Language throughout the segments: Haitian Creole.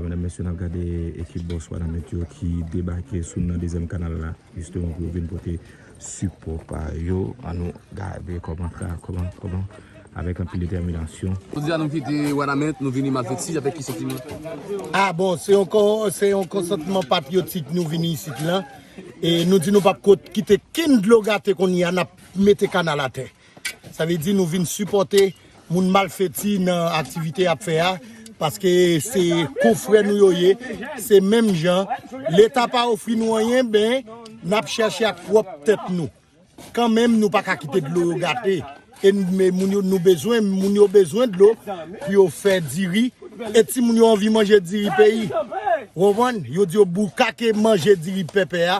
Medam mesye nap gade ekip Boss Wanament yo ki debake sou nou nan dezyèm kanal la jisteman pou yo vin pote sipò pa yo an nou gade kòman tra kòman kòman avèk anpil detèminasyon. Jodi a nou kite Wanament nou vini Malfety avèk ki santiman? Ah bon se yon se yon konsantman patriyotik nou vini isit lan e nou di nou pap ko kite ken dlo gate kounyea nap mete kanal atè. Sa vle di nou vin sipòte moun malfeti nan aktivite yap fè a, paske se konfrè nou yo ye, se menm jan, leta pa ofri nou anyen ben nap chèche ak pwòp tèt nou. Kan menm nou paka kite dlo yo gate, e moun yo nou bezwen, moun yo bezwen dlo pou yo fè diri, e timoun yo anvi manje diri peyi. Ou konprann? Yo di yo boukake manje diri pèpè a,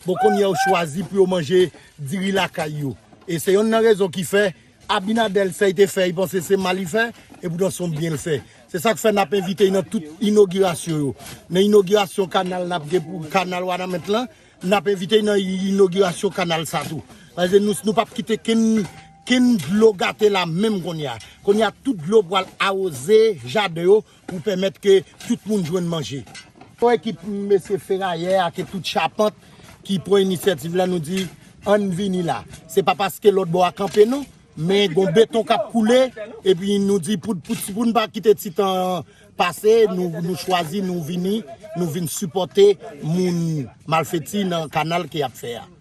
Bon konnya yo chwazi pou yo manje diri lakay yo e se yonn nan rezon ki fè Abinadel sey te fè y panse se mal y fè e poutan son byen l fè se sak fè nap envite y nan tout inogirasyon yo nan inogirasyon kanal nap gen pou kanal wanament lan nap envite y nan inogirasyon kanal sa tou paske nou nou pap kite kenn kenn dlo gate la menm konnya konnya tout dlo pwal awoze jaden yo. pou pèmèt ke tout moun jwenn manje. Pou ekip mesye ferayè ak e tout chapant ki pran inisyativ la nou di ann vini la. Se pa paske lòt bò a kanpe non, men gon beton k ap koule epi nou di pou nou pa kite ti tan an pase nou chwazi nou vini nou vin sipòte moun malfèti nan kanal ke y ap fè a.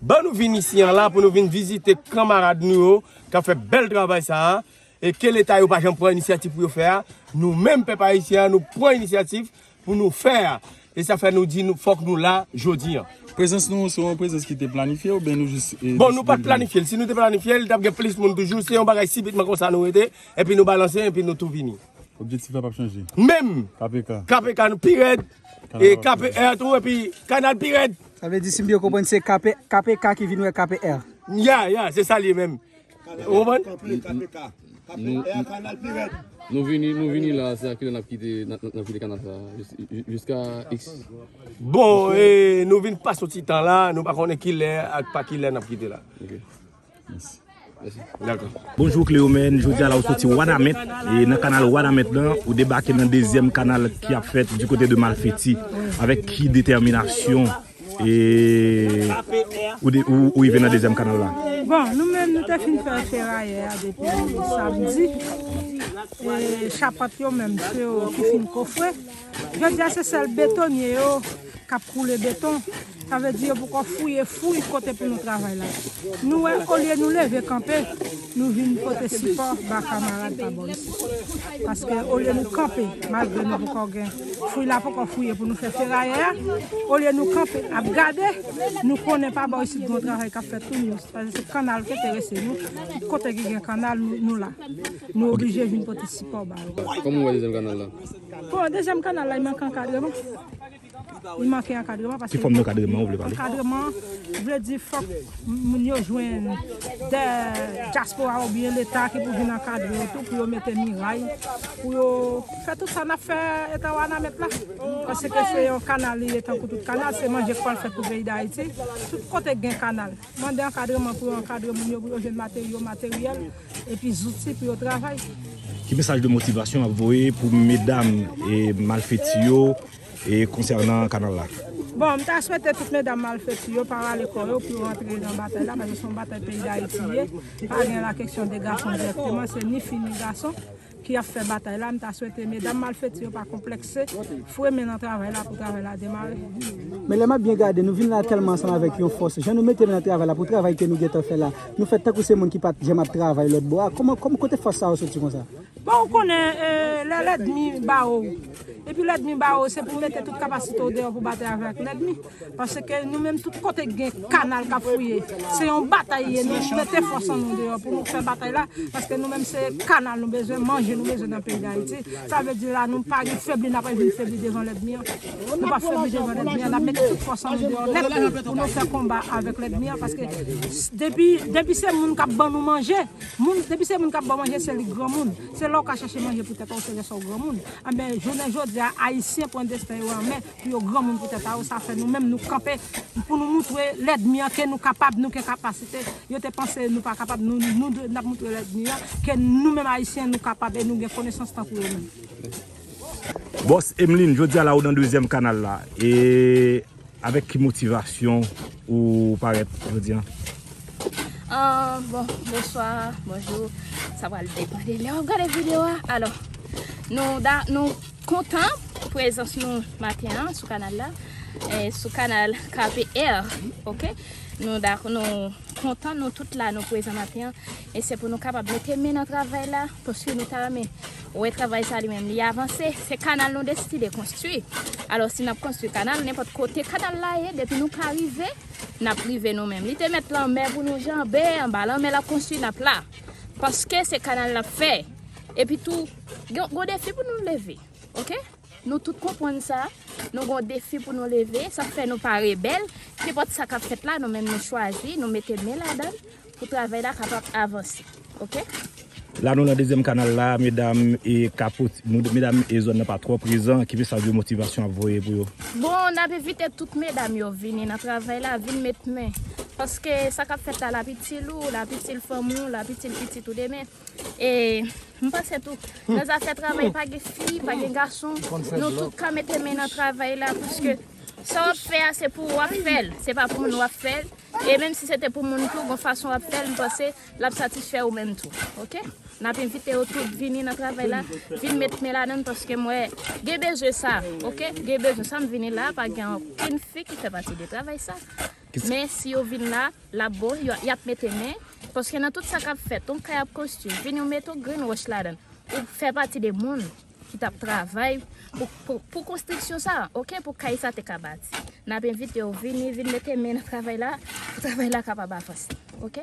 Ban nou vin isi an la pou nou vin vizite kanmarad nou yo k ap fè bèl travay sa a e ke leta yo pa janm pran inisyativ pou yo fè a, nou menm pèp ayisyen an nou pran inisyativ pou nou fè a e sa fè nou di nou fòk nou la jodi an. Prezans nou se yon prezans ki te planifye oubyen nou jis deside vini? Bon nou pa t planifye l, si nou te planifye l t ap gen plis moun toujou, se yon bagay sibitman konsa nou rete epi nou balanse epi nou tou vini. Objektif la pap chanje. Menm. KPK. KPK nou pi rèd. E KPR tou epi kanal pi rèd. Sa vle di si m byen konprann se KPK ki vin wè KPR. Ya ya se sa li ye menm. Ou konprann? Kapri KPK. KPR kanal pi rèd. Nou vini nou vini la se akilè nap kite nap kite kanal sa. Jiska X. Bon e nou vin pas yon ti tan la nou pa konnen kilè ak pa kilè nap kite la. Bonjou Cleomène, jodi a la ou soti Wanament e nan kanal Wanament lan ou debake nan dezyèm kanal ki ap fèt di kote de Malfeti avèk ki detèminasyon e ou rive nan dezyèm kanal la? Bon nou menm nou te fin fè ferayè a depi samdi e chapant yo menm ki fin kofre. Jodia se sèl betonye yo kap koule beton, sa vle di yo poko fouye fouy kote pou nou travay la. Nou wè olye nou leve kanpe, nou vin pote sipò ba kamarad pa bò isi. Paske olye nou kanpe, malgre nou poko gen fouy la poko fouye pou nou fè ferayè a, olye nou kanpe ap gade, nou konnen pa bò isit gon travay kap fèt tou, nou paske se kannal ki enterese nou, kote ki gen kannal nou la. Nou oblije vin pote sipò ba yo. Kòman ou wè dezyèm kannal la? Bon dezyèm kanal la li manke ankadreman li manke ankadreman paske li manke ankadreman vle di fòk moun yo jwenn dè dyaspora oubyen leta ki pou vin ankadre yo tou pou yo mete miray pou yo fè tout sa nap fè eta wanament la paske se yon kanal li ye tankou tout kanal se manje pwal fèt pou peyi dayiti tout kote gen kanal mande ankadreman pou yo ankadre moun yo pou yo jwenn materyo materyèl. epi zouti pou yo travay. Ki mesaj de motivasyon wap voye pou medam e malfeti yo e konsènan kanal la? Bon, m ta swete tout medam malfeti yo pa rale kò yo pou yo rantre nan batay la, paske se yon batay peyi Dayiti li ye, pa gen la keksyon de gason direkteman, se ni fi ni gason. ki ap fè batay la, m ta swete medam malfeti yo pa konplekse, fwe men nan travay la pou travay la demare. Men lè map byen gade nou vin la tèlman ansanm avèk yon fòs, jan nou mete men nan travay la pou travay ke nou gentan fè la, nou fè tankou se moun ki pat janm ap travay lòt bò a, kòman, kòman, kote fòs sa yo soti konsa? Bon ou konnen lè lèdmi ba ou, epi lèdmi ba ou se pou mete tout kapasite ou deyò pou batay avèk lèdmi. Paske nou menm tout kote k gen kanal k ap fouye se yon batay li ye nou mete fòs an nou deyò pou nou fè batay la paske nou menm se kanal nou bezwen manje nou bezwen nan peyi dayiti sa vle di la nou pa gen febli n ap al vin febli devan lèdmi an nou p ap febli devan lèdmi an n ap mete tout fòs an nou deyò nèt pou nou fè konba avèk lèdmi an paske depi depi se moun k ap ban nou manje moun depi se moun k ap ban manje se li granmoun se la w ka chache manje pou tèt w se lè sa w granmoun anben jounen jodi a ayisyen pran desten yo an men. Pou yo granmoun pou tèt a yo, sa fè nou menm nou kanpe pou nou moutre lèdmi an ke nou kapab, nou gen kapasite. Yo te panse nou pa kapab, nou dwe, n ap moutre lèdmi an ke nou menm Ayisyen nou kapab e nou gen konesans tankou yo menm. Bòs Emeline, jodi a la ou nan dezyèm kanal la e avèk ki motivasyon ou parèt jodi an? Bon, bonswa, bonjou, sa pral depan de lè w ap gade videyo a. Alò, nou da, nou. Kontan pou prezans nou maten an sou kanal la Sou kanal KPR Ok Nou dakò nou kontan nou tout la nou prezan maten an E se pou nou kapab mete men nan travay la Paske nou ta renmen wè travay sa li menm li avanse Se kanal nou deside konstwi Alò si n ap konstwi kanal nenpòt kote kanal la ye Depi nou ka rive n ap rive nou menm Li te met lanmè pou nou janbe anba lanmè l ap konstwi n ap la Paske se kanal n ap fè Epitou Gen yon defi pou nou leve ok nou tout konprann sa nou gen yon defi pou nou leve sa k fè nou pa rebèl nenpòt sa kap fèt la nou menm nou chwazi nou mete men ladan pou travay la kapab avanse ok. La nou nan dezyèm kanal la medam e kapot medam e zòn nan pa twò prezan ki mesaj de motivasyon ap voye pou yo. Bon nap envite tout medam yo vini nan travay la vin met men paske sa kap fèt la lap itil ou lap itil fanmi ou lap itil pitit ou demen. E m panse tou, nan zafè travay pa gen fi, pa gen gason, nou tout ka mete men nan travay la paske sa w ap fè a se pou ou w ap fè l, se pa pou moun w ap fè l. E menm si se te pou moun tou, gon fason w ap fè l, m panse l ap satisfè ou menm tou. Ok? N ap envite yo tout vini nan travay la, vin met men ladan l paske m wè gen bezwen sa. Ok? Gen bezwen sa, m vini la a pa gen okenn fi ki fè pati de travay sa. Men si yo vin la, lap bon, yo yap mete men, paske nan tout sa kap fèt, yon kay ap konstwi, vin yo mete yon grenn wòch ladan, ou fè pati de moun ki tap travay pou konstriksyon sa, ok, pou kay sa te ka bati. Nap envite yo vini, vin mete men nan travay la, pou travay la kapab avanse, ok.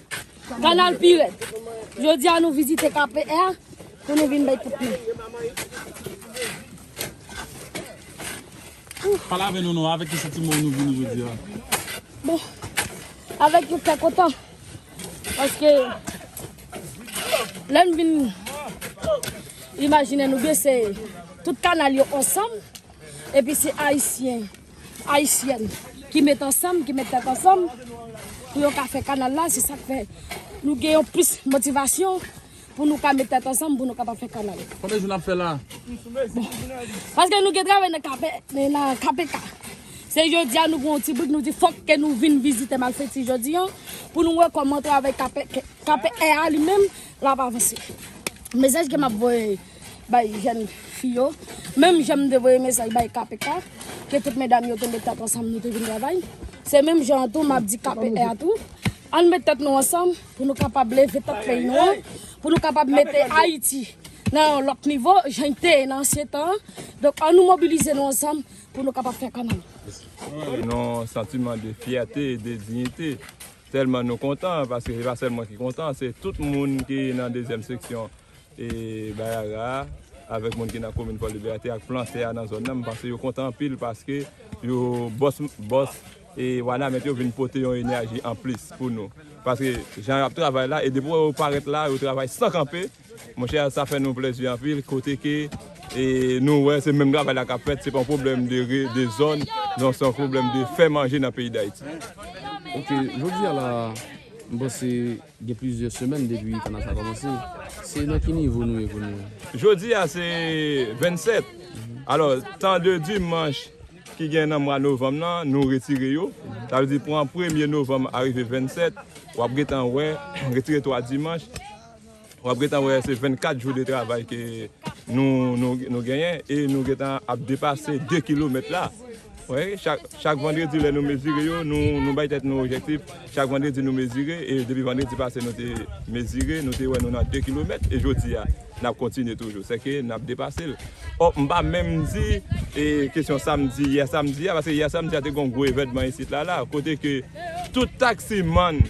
Kanal Pirèd. Jodi a nou vizite KPR pou nou vin bay tout nou. Pale avè nou nou, avè ki sitimo nou vini jodi a? Bon, avè ki fè kontan. Paske, lè nou vin imajine nou bese tout kanal yo ansanm, epi se ayisyen. Ayisyèn ki met ansanm, ki met tèt ansanm pou yo ka fè kanal la, se sak fè nou gen yon plis motivasyon pou nou ka met tèt ansanm pou nou kapab fè kanal. Konbyen jou nap fè la? Bon, paske nou gen travay nan kape, nan KPK. Se jodi a nou gen yon ti brik nou di fòk ke nou vin vizite Malfety jodi an pou nou wè kòman travay KPK a li menm lap avanse. Mesaj ke map voye. bay jèn fi yo menm jan m te voye mesaj bay kpk ke tout medam yo te met tèt ansanm nou te vin travay se menm jan an tou map di kpk a tou ann met tèt nou ansanm pou nou kapab leve tèt peyi nou an pou nou kapab mete ayiti nan yon lòt nivo jan li te ye nan ansyen tan an donk annou mobilize nou ansanm pou nou kapab fè kanal. yon santiman de fyète e de diyite tèlman nou kontan paske se pa sèl mwen ki kontan se tout moun ki nan dezyèm seksyon e Bayara a avèk moun ki nan komin Fò Libète ak plantè a nan zòn nan m panse yo kontan anpil paske yo bòs bòs e Wanament yo vin pote yon enèji anplis pou nou paske jan y ap travay la e depi w wè yo parèt la yo travay san kanpe monchè sa fè nou plèzi anpil kote ke e nou wè se menm travay la k ap fèt se pa yon pwoblèm de zòn non se yon pwoblèm de fè manje nan peyi Dayiti. Ok, jodi a la a m panse. Gen plizyè semèn depi kanal sa kòmanse, se nan ki nivo nou ye kounye a? Jodi a se 27, alò tan de dimanch ki gen nan mwa novanm nan nou retire yo, sa vle di pran premye novanm arive 27, w ap gentan wè, retire 3 dimanch, w ap gentan wè se 24 jou de travay ke nou genyen e nou gentan ap depase 2 kilomèt la. Chak vandredi lè nou mezire yo, nou bay tèt nou ojektif, chak vandredi nou mezire, e depi vandredi pase nou te mezire, nou te wè nou nan 2 kilomèt, e jodi a, n ap kontinye toujou, sèke n ap depase l. O, m pa menm di kesyon samdi, yè samdi a, paske yè samdi a te gen yon gwo evènman isit la la, kote ke tout taksimann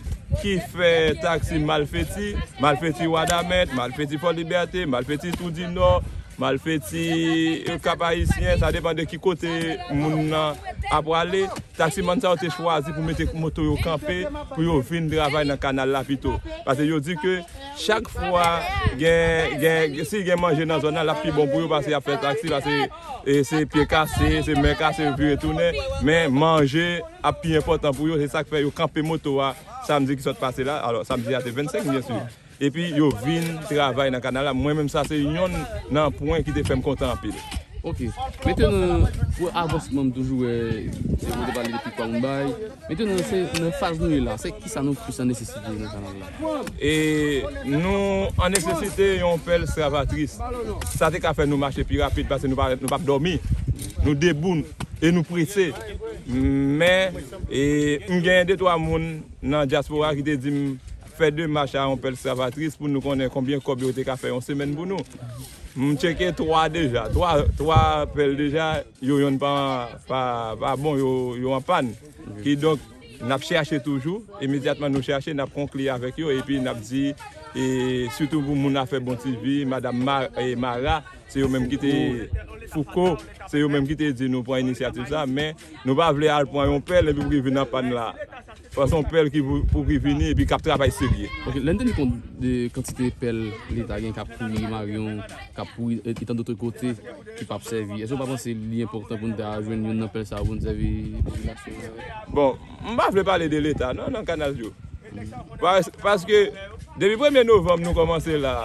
ki fè taksi malfeti, malfeti Wadamèt, malfeti Fòlibète, malfeti Twou di Nò, Malfeti yo kap ayisyen, sa depan de ki kote moun nan ap prale. Taksimann sa yo te chwazi pou mete moto yo kanpe pou yo vin travay nan kanal la pito. Pase yo di ke chak fwa gen, si gen manje nan zòn nan lap pi bon pou yo pase yap fè taksi pase se pye kase, se men kase yo vire tounen. Men manje ap pi enpòtan pou yo se sak fè yo kanpe moto a samdi ki sot pase la, alò samdi a se 25 byensi. Epi yo vin travay nan kanal la mwen menm sa se yonn nan pwen ki te fèm kontan anpil. Ok. Mete nan pou avansman m toujou wè se mwen te pale de pikwa moun bay. Mete nan se nan faz nou ye la se kisa nou plis an nesesite nan kanal la? E nou an nesesite yon pèl stravatris. Sa te ka fè nou mache pi rapid pase nou pa nou pap dòmi. Nou debou e nou prese. Men e m gen de twa moun nan dyaspora ki te di m. Fè demach a yon pèl skravatris pou nou konnen konbyen kòb yo te ka fè yon semèn pou nou. M tcheke 3 deja. 3 3 pèl deja yo yonn pa pa bon yo an pàn. Ki donk n ap chèche toujou. Imedyatman nou chèche n ap konkli avèk yo epi n ap di e sitou pou moun afè bon ti vi madam Mara se yo menm ki te Fouco se yo menm ki te di nou pran inisyativ sa men nou pa vle al pran yon pèl epi pou ki vin an pàn la. Sa se yon pèl ki pou ki vini epi kap travay serye. Ok, lè n teni kont de kantite pèl leta gen kap kouri Maryon, kap kouri etan dotre kote ki pap sèvi, èske ou pa panse li enpòtan pou n ta jwenn youn nan pèl sa yo pou n sèvi popilasyon an avèk? Bon, m pa vle pale de leta non nan kanal yo. Paske depi premye novanm nou kòmanse la,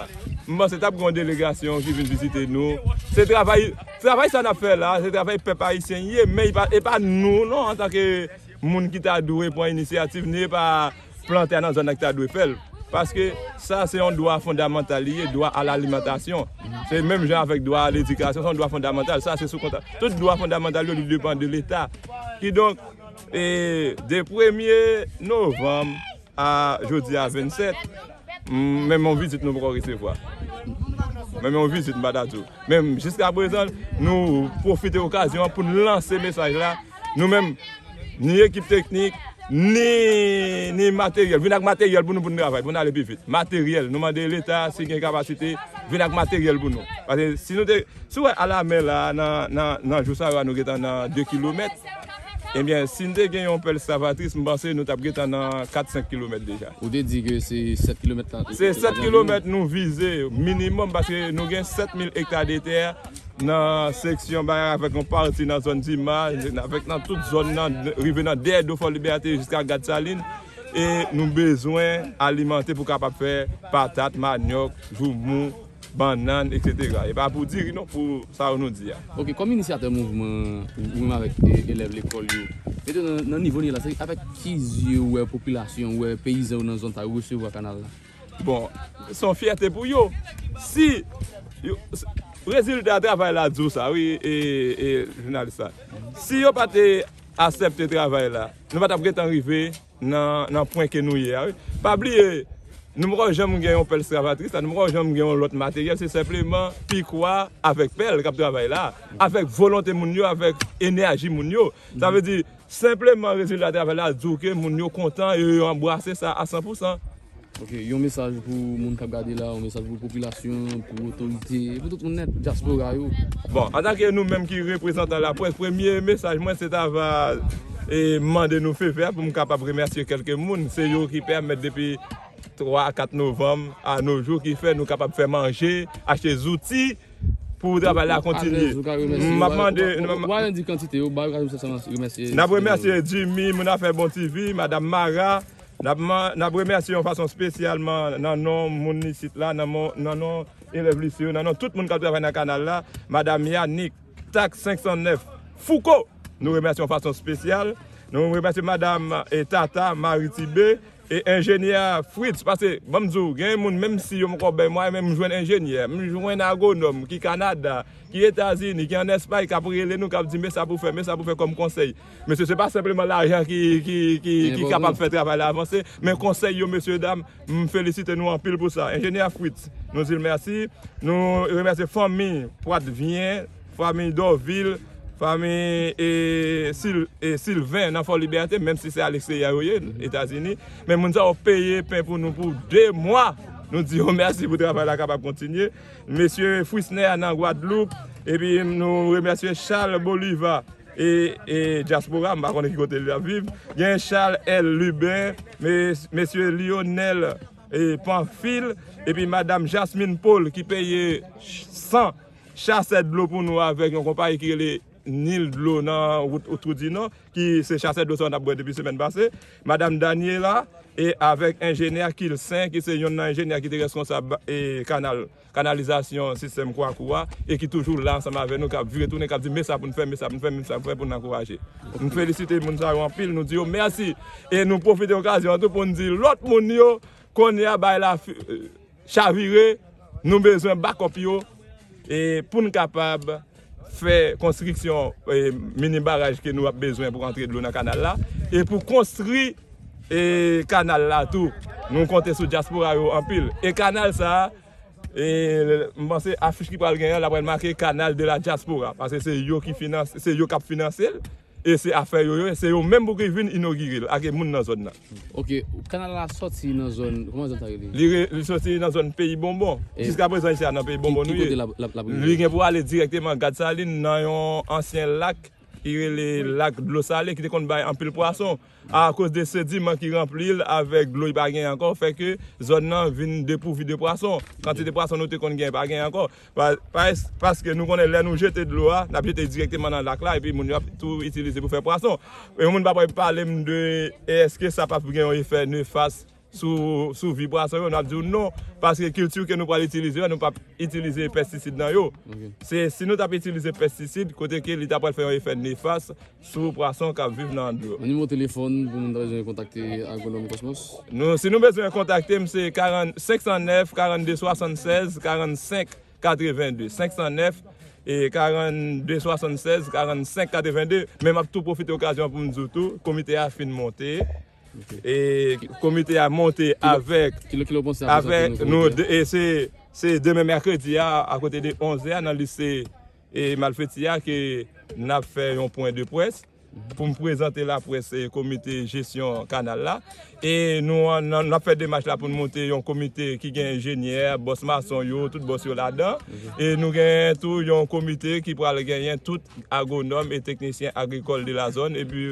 m panse tap gen yon delegasyon ki vin vizite nou. Se travay, travay sa nap fè la, se travay pèp ayisyen ye men e pa nou non antanke. moun ki ta dwe pran inisyativ ni epa plantè a nan zòn nan ki ta dwe fèl paske sa se yon dwa fondamantal li ye dwa a lalimantasyon se menm jan avèk dwa a ledikasyon se yon dwa fondamantal sa se sou kontra tout dwa fondamantal yo li depan de leta kidonk e de premye novanm A jodi a 27 menm yon vizit nou poko resevwa menm yon vizit m pa ta di w menm jiska prezan nou pwofite okazyon an pou n lanse mesaj la nou menm ni ekip teknik ni materyèl vin ak materyèl pou nou pou n travay pou n ale pi vit materyèl nou mande leta si gen kapasite vin ak materyèl pou nou pase si nou te si w wè a la men la nan jou sa yo a nou gentan nan 2 kilomèt. Ebyen si n te gen yon pèl Stravatris m panse nou t ap gentan nan 4, 5 kilomèt deja. Ou te di ke se 7 kilomèt tan. Se 7 kilomèt nou vize minimòm paske nou gen 7000 ekta de tè nan seksyon Bayan avèk yon pati nan zòn Dima avèk nan tout zòn nan rive nan dèyè do Fòlibète jiska Gad Salin e nou bezwen alimante pou kapab fè patat, manyòk, joumou. bannann etc. E pa pou diri non pou sa yo nou di a. Ok kòm inisyatè mouvman ou menm avèk elèv lekòl yo mete nou nan nivo nou ye la se avèk ki zye ou wè popilasyon ou wè peyizan yo nan zòn sa yo resevwa kanal la? Bon se yon fyète pou yo si yo rezilta travay la di w sa wi jounalis la si yo pa te asèpte travay la nou pa t ap gentan rive nan pwen ke nou ye a wi pa bliye nou poko janm gen yon pèl stravatris la nou poko janm gen yon lòt materyèl se senpleman pikwa avèk pèl kap travay la avèk volonte moun yo avèk enèji moun yo sa vle di senpleman rezilta travay la di w ke moun yo kontan e yo anbrase sa a san pou san. Ok yon mesaj pou moun kap gade la, yon mesaj pou popilasyon, pou otorite, pou tout moun nèt, dyaspora yo. Bon, antanke nou menm ki reprezantan laprès, premye mesaj mwen se ta va mande nou fevè pou m kapab remèsye kèlke moun, se yo ki pèmèt depi 3 a 4 novanm a no jou ki fè nou kapab fè manje, achte zouti pou travay la kontinye. M ap mande. Ou pa di kantite yo, bay okazyon pou sa sa remèsye. N ap remèsye Jimmy, Moun Afè Bon TV, Madam Mara. N ap remèsye yon fason spesyalman nan non moun isit la, nan non elèv lise yo, nan non tout moun k ap travay nan kanal la, Madam Yanick, tak 509, Fouco! Nou remèsye yon fason spesyal. Nou remèsye Madam Tata Marie Thibé e Enjenyè Fritz. Pase, ban m di w, gen moun menm si yo m kò bèy mwa, men m jwenn enjenyè, m jwenn agonòm ki Kanada, ki Etazini, ki an Espay k ap rele nou, k ap di men sa pou w fè, men sa pou w fè kòm konsèy. Mesye se pa senpleman lajan ki kapab fè travay la avanse men konsèy yo mesye dam m felisite nou anpil pou sa enjenyè Fritz nou di l mèsi nou remèsye fanmi Prattvien fanmi Dorvil fanmi Sylvain nan Fòlibète menm si se aleksterye yo ye etazini men moun sa yo peye pen pou nou pou 2 mwa nou di yo mèsi pou travay la kapab kontinye mesye Frisner nan Gwadloup epi nou remèsye Charles Bolivar E diaspora m pa konnen ki kote li ap viv. Gen Charles L. Lubin, Mesye Lionel Pamphile epi Madam Jasmine Paul ki peye 100 chasè dlo pou nou avèk yon konpayi ki rele Nil Dlo nan wout Trou di Nò ki se chasè dlo sa yo n ap bwè depi semèn pase. Madam Daniela avèk enjenyè Kilsen ki se yonn nan enjenyè ki te reskonsab kanal. kanalizasyon sistèm Kwakou a e ki toujou la ansanm avè nou kap vire tounen kap di mesa poun fè mesa poun fè mesa poun fè poun ankouraje nou felisite moun sa yo anpil nou di yo mèsi e nou pwofite okazyon an tou poun di lòt moun yo kounye a bagay la chavire nou bezwen bakòp yo e poun kapab fè konstriksyon mini baraj ke nou ap bezwen pou antre dlo nan kanal la, e pou konstri kanal la tou, nou konte sou dyaspora yo anpil, e kanal sa a, m panse afich ki pral gen an, la pral make kanal de la dyaspora, pase se yo ki finanse, se yo kap finanse l. e se afè yo ye, se yo menm pou ki vin inogire l ak e moun nan zòn nan. Ok, kanal la sòti nan zòn, kòman zòn sa rele? Li re, li sòti nan zòn peyi Bonbon. E. Jiska prezan isi a nan peyi Bonbon nou ye. Ki kote lap, lap, lap rive? Li gen pou ale dirèkteman Gad Salin nan yon ansyen lak ki rele lak dlo sale ki te konn bay anpil pwason. A koz de sediman ki ranpli l avèk dlo li pa genyen ankò fè ke zòn nan vin depouvi de pwason. Kantite pwason nou te konn genyen pa genyen ankò. Paske nou konnen lè nou jete dlo a, n ap jete dirèkteman nan lak la epi moun yo ap tou itilize pou fè pwason. Yon moun pa pral pale m de eske sa p ap gen yon efè nefas sou vi pwason yo, n ap di w non, paske kilti ke nou pral itilize yo, nou p ap itilize pèstisid nan yo. Se si nou t ap itilize pèstisid, kote ke li ta pral fè yon efè nefas sou pwason k ap viv nan dlo. Yon nimewo telefòn pou moun ta bezwen kontakte Agwonòm Kosmos? Si nou bezwen kontakte m, se 509 42 76 45 82, 509 42 76 45 82. Men m ap tou pwofite okazyon an pou m di w tou, komite a fin monte. E komite a monte avèk nou se demen mèkredi a akote de 11 zè a nan lise e malfeti a ke nap fè yon pwen de pwès pou m prezante la pwès se komite jesyon kanal la e nou an nan fè demach la pou nou monte yon komite ki gen enjenyè bòs mason yo tout bòs yo ladan e nou gen tou yon komite ki pral genyen tout agwonòm e teknisyen agrikòl de la zòn epi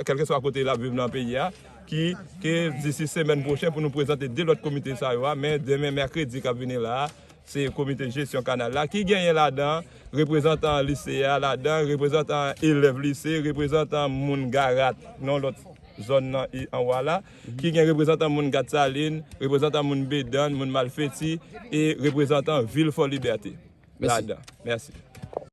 kèlkeswa kote lap viv nan peyi a ki ke disi semèn pwochen pou nou prezante 2 lòt komite sa yo a men demen mèkredi kap vini la se komite jesyon kanal la ki genyen ladan reprezantan lise a ladan reprezantan elèv lise reprezantan moun garat nan lòt zòn nan e anwa la ki gen reprezantan moun gat salin reprezantan moun bedann moun malfeti e reprezantan vil fòlibète ladan mèsi.